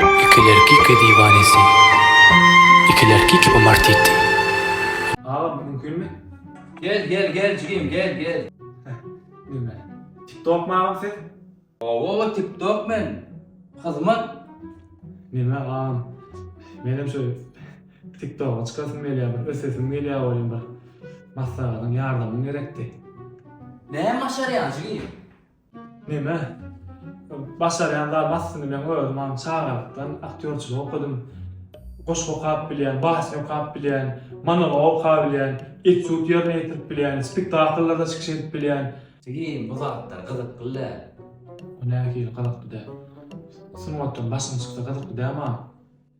Ikilerkike diwanesi Ikilerkike bu martiti. Agam mümkinmi? Gel gel gel jigim gel gel. Nime? Tiktokmy agam siz? Owowa tiktok men. Hyzmat. Nime agam? Menem şu tiktoga çykasym gelýär bir ösesim gelýär welin bir maslagatyň ýardamyň gerekdi. Näme başarýaň jigim? Neme? Başarýan zat aslynda men özüm aň çagalykdan aktýorçylyk okadym. Goşgy okap bilýän, basny okap bilýän, monolog okap bilýän, etýud ýerine ýetirip bilýän, spektakllarda çykyş edip bilýän. Jigim bu zatlar gyzykly däl. Bu nähili gyzykly däl? Sungatdan başyň çyksa gyzykly däl maň.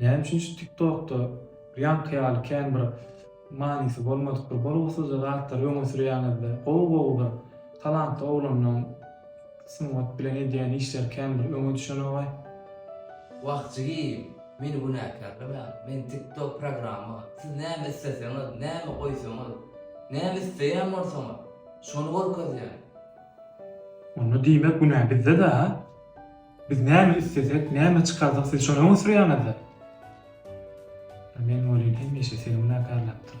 Näme üçin şu tiktokda bir ýaňky ýaly kän bir manysy bolmadyk bir bolgusyzja zatlary öňe sürýäňizde gowy gowy bir talantly oglanlaň sungat bilen edýän işleri kän bir öňe düşenogaý. Wah jigim meni günäkärlemäň men tiktok programma siz näme isleseňiz näme goýsaňyz näme isleýän bolsaňyz şony görkezýän. Onda diýmek günä bizde-de ha. Biz näme islesek, näme çykarsak siz şony öňe sürýäňizda. Men welin hemişe seni günäkärläpdir.